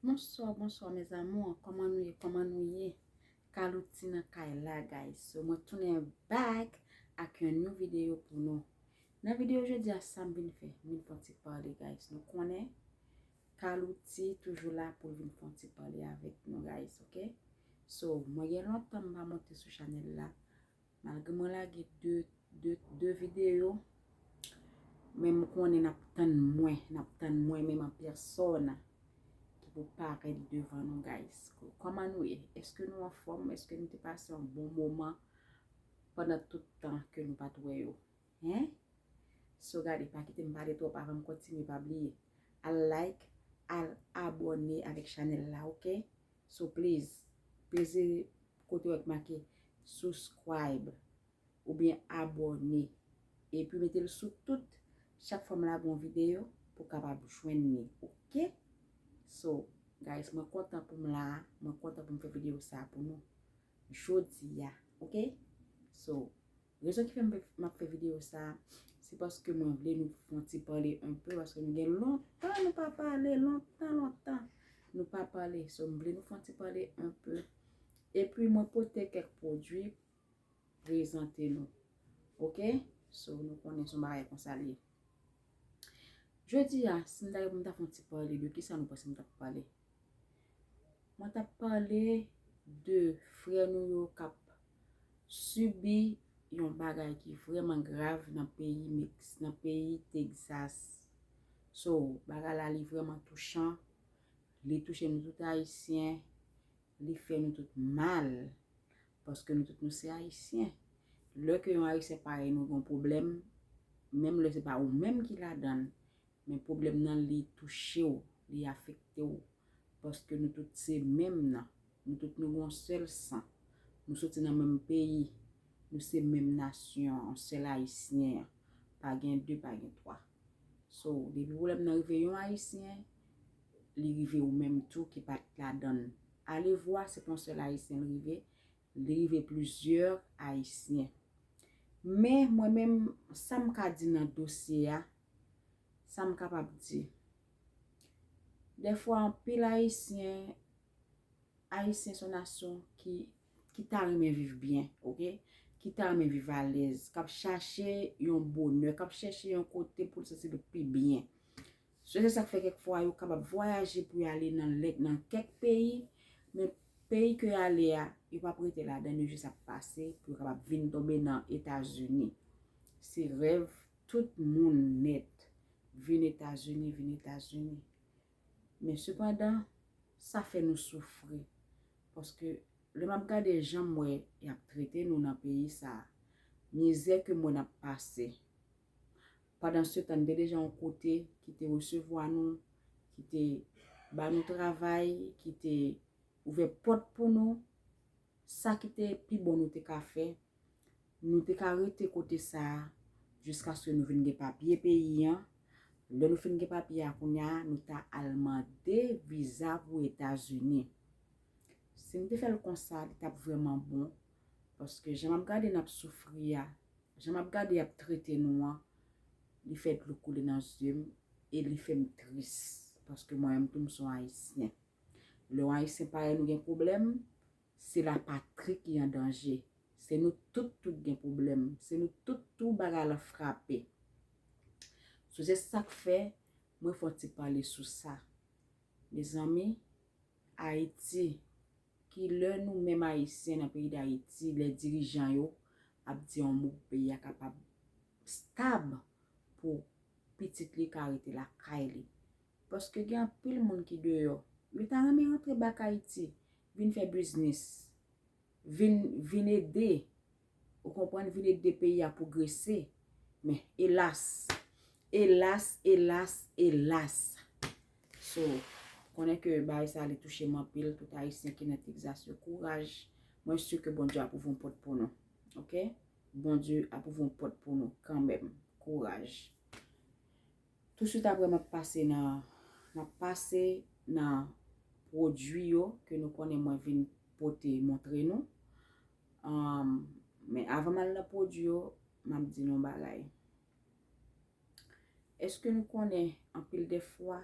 Bonswa bonswa mes amours kòman nou ye kòman nou ye Carlotti nan kay la guys so mwen tounen back ak yon new video pou nou nan video jodia sam vin fè m vin fè yon ti pale guys nou konnen Carlotti toujou la pou l vin fè yon ti pale avèk nou guys ok so mwen gen lontan m pa monte sou chanèl la Malgre mwen lage 2 video. Men m konnen nap tann mwen. Nap tann mwen menm an persona. Ki pou paret devan nou guys. Koman nou ye? Eske nou anfom? Eske nou te pase yon bon moman? Pandan tout tan ke nou pat we yo. Hein? So gade pa kite m pale trop avan m kontinye pa bliye. Al like, al abone avek chanel la ok. So please peze kote wè ki make Subscribe oubyen abòne epi mete l sou tout chak fwa m lage yon videyo pou w kapab jwenn li ok So guys mwen kontan pou m la mwen kontan pou m fè videyo sa pou nou jodi a ok So. Rezon ki fè m ap fè videyo sa a, se paske mwen vle nou fon ti pale anpe, paske nou gen lontan nou pa pale, lontan lontan nou pa pale. So m vle nou fon ti pale anpe. E pi mwen pote kèk pwodui prezante nou. Ok? So nou konnen son bagay konsa li ye. Jodi a, si m ta gen pou m ta fon ti pale, de ki sa nou panse m ta pale? Mwen tap pale de frè nou yo kap sibi yon bagay ki vreman grav nan peyi Mex, nan peyi Texas. So, bagay la li vreman touchan, li touche nou tout Ayisyen, li fè nou tout mal. Paske nou tout nou se Ayisyen. Lè ke yon Ayisyen parèy nou gen yon pwoblèm, menm lè se pa ou menm ki ladann, Men pwoblèm nan li touche w, li afekte w. Paske nou tout se menm nan. Nou tout nou gen yon sèl san. Nou soti nan menm peyi. Nou se menm nasyon an, yon sèl Ayisyen an. Pa gen de, pa gen twa. So, depi pwoblèm nan rive yon Ayisyen, li rive ou menm tou ki pa t ladan l. Alevwa, se pa yon sèl Ayisyen li rive, li rive plizyè Ayisyen. Men, mwen menm, sa m ka di nan dosye a, Sa m kapab di. Dèfwa anpil Ayisyen, Ayisyen se yon nasyon ki ta renmen viv byen, ok? Ki ta renmen viv alèz, k ap chache yon bonè, k ap chache yon kote pou l santi l pi byen. Se te sa k fè kèk fwa yo kapab vwayaje pou y ale nan kèk peyi, men peyi ke y ale a, yo pa p rete ladan l, yo jis ap pase pou yo kapab vin tonbe nan Etazini. Se rèv Tout moun nèt vin Etazini, vin Etazini. Men sepandan, sa fè nou soufri. Paske, lè m ap gade jan m wè y ap trete nou nan peyi sa a, mizè ke m wè n ap pase. Pandansetan, n te deja yon kote ki te resevwa nou, ki te ba nou travay, ki te ouvè pòt pou nou. Sa ki te pi bon nou te ka fè, nou te ka rete kote sa a jiskaske nou vin gen papye peyi an. Lè nou fin gen papye a kounya a, nou ta al mande viza pou Etazini. Si nou te fè l konsa, li t ap vrèman bon. Paske jan m ap gade n ap soufri a, jan m ap gade y ap trete nou an, li fè dlo koule nan zye m e li fè m tris. Paske mwen menm tou m son Ayisyen. Lè yon Ayisyen parèy nou gen pwoblèm, se lapatri ki an danje. Se nou tout tout gen pwoblèm. Se nou tout tou bagay lan frape. Sou se sa k fè mwen fè yon ti pale sou sa. Mezanmi, Ayiti, ki lè nou menm Ayisyen nan peyi Dayiti, lè dirijan yo ap di yon mo pou peyi a kapab stab pou pitit li ka rete lakay li. Paske gen anpil moun ki deyò. Yo ta renmen rantre back Ayiti. Vin fè biznis. Vin, vin ede. Ou konprann? Vin ede peyi a pwogrese. Men, elas! Elas, elas, elas! So, konnen ke bagay sa li touche m anpil. Tout Ayisyen ki nan Texas yo, kouraj! Mwen si ke Bondye ap ouvri yon pòt pou nou. Ok? Bondye ap ouvri yon pòt pou nou kanmenm. Kouraj! Tou swit apre map pase nan map pase nan pwodwi yo ke nou konnen mwen vin pote montre nou um men avan mal nan pwodwi yo map di nou yon bagay eske nou konnen anpil de fwa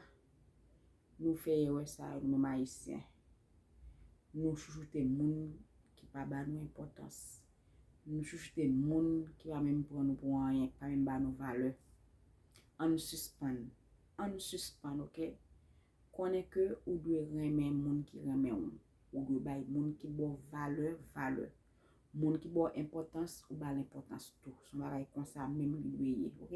nou fè erè sa yo nou menm ayisyen Nou chouchoute moun ki pa ba nou enpòtans. Nou chouchoute moun ki pa menm pran nou pou anyen, ki pa menm ba nou valè. Ann sispann. Ann sispann ok. Konnen ke ou dwe renmen moun ki renmen ou. Ou dwe bay moun ki ba w valè, valè. Moun ki ba w enpòtans, ou ba l enpòtans tou. Son bagay konsa menm li dwe ye ok.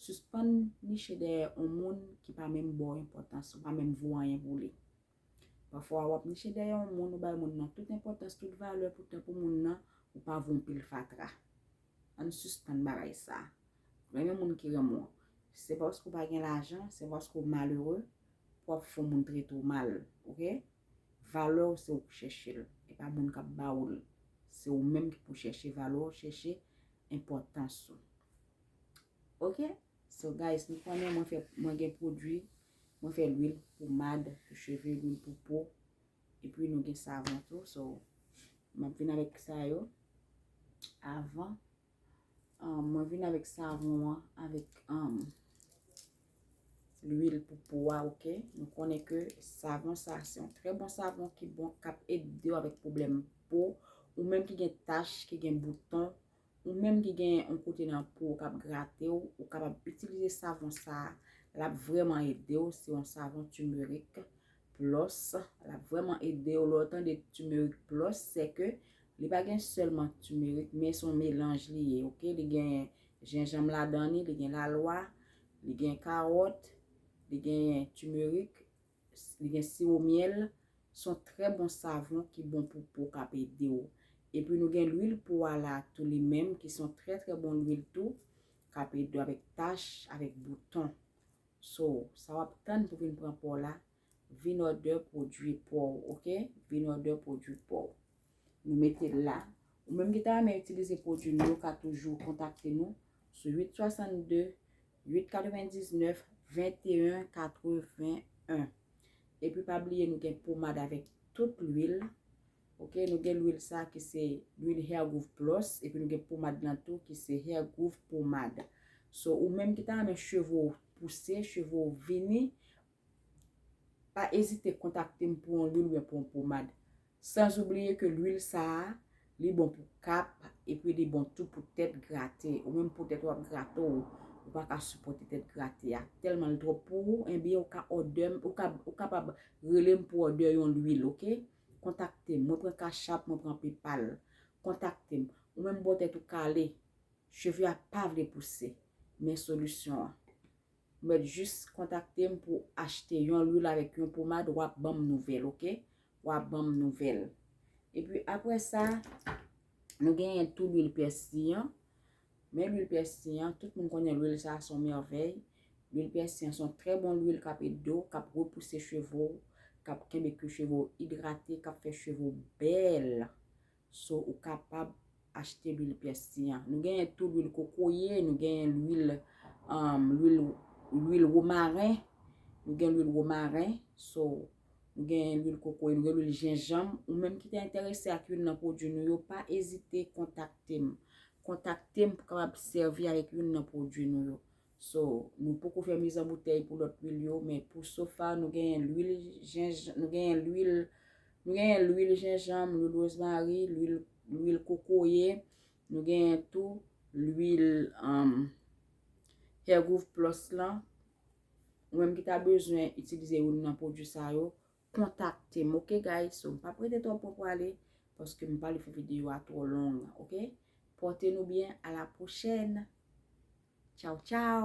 Sispann niche dèyè on moun ki pa menm ba w enpòtans, ou pa menm vo anyen pou li. Pafwa wap niche dèyè yon moun ou bay moun nan tout enpòtans tout valè poutan pou moun nan ou pa vwon pil fatra ann sispann bagay sa renmen moun ki renmen w se paske ou pa gen lajan se paske ou malere pou wap fè yon moun trete w mal ok valè w se ou k chèche l e pa moun kap ba ou l se ou menm ki pou chèche valè w chèche enpòtans ou ok so guys nou konnen mwen gen pwodwi Mwen fè lwil pou mad, pou cheve, lwil pou po. E pi nou gen savon tou. So, mwen vin avèk sa yo. Avan, mwen vin avèk savon an, avèk lwil pou po a, ok. Nou konnen ke savon sa, se yon trè bon savon ki bon kap ede yo avèk pwoblèm po. Ou menm ki gen tach, ki gen bouton. Ou menm ki gen yon kote nan po ou kap gratew ou kapab itilize savon sa lap vreman edew se yon savon timerik plos lap vreman edew lè ou tande timerik plos se ke li pa gen selman timerik men son melanj li ye ok li gen jenjanm ladan li li gen lalwa li gen kawòt li gen timerik li gen siwo myèl, son trè bon savon ki bon pou po kap edew. Epi nou gen lwil pou ala tou li menm ki son trè trè bon lwil tou kap edew avèk tach, avèk bouton. So, sa wap tann pou vin pran paw la, vin òdè pwodwi paw ok, vin òdè pwodwi paw. Nou mete l la. Ou menm ki ta renmen itilize pwodui nou yo, ou ka toujou kontakte nou sou 862 899 21 81. Epi pa bliye nou gen pomad avèk tout lwil. Ok, nou gen lwil sa ki se lwil Hair Groove Plus, epi nou gen pomad lan tou ki se Hair Groove Pomade. So, ou menm ki ta renmen cheve w pouse, cheve w vini, Pa ezite kontakte m pou yon lwil oubyen pou yon pomad. Sans oubliye ke lwil sa a, li bon pou kap epi li bon tou pou tèt grate. Ou menm pou tèt ou ap grate w, ou pa ka sipòte tèt grate a, tèlman l twòp pou ou, enben ou ka òdè m, ou kapab rele m pou òdè yon lwil ok. Kontakte m, mwen pran kachap, mwen pran pepal. Kontakte m. Ou menm bò tèt ou kale, cheve a pa vle pouse, men solisyon an. Ou mèt jis kontakte m pou achte yon lwil avèk yon pomad wap banm nouvèl ok wap banm nouvèl epi aprè sa nou genyen tou lwil pèsi an men lwil pèsi an tout moun konnen lwil sa son mèvèy lwil pèsi an son trè bon lwil kap ede w kap repouse cheve w kap kenbe kou cheve w idrate kap fè cheve w bèl So ou kapab achte lwil pyès ti an. Nou genyen tou lwil kokoye, nou genyen lwil lwil womaren, nou gen lwil womaren, so nou genyen lwil kokoye, nou gen lwil jenjanm. Ou menm ki te enterese ak youn nan pwodwi nou yo, pa ezite kontakte m. Kontakte m pou kapab sèvi ak youn nan pwodwi nou yo. So, nou poko fè miz an boutèy pou lòt lwil yo, men pou sofa nou genyen lwil jenjan, nou genyen lwil, nou genyen lwil jenjanm, lwil wozmari, lwil, lwil kokoye, nou genyen tou lwil an Hair Growth Plus lan. Ou menm ki ta bezwen itilize youn nan pwodwi sa yo, kontakte m ok guys so m pap rete twòp pou pwale paske m pa vle fè videyo a twò long ok pòte nou byen a la pwochèn tchaw tchaw.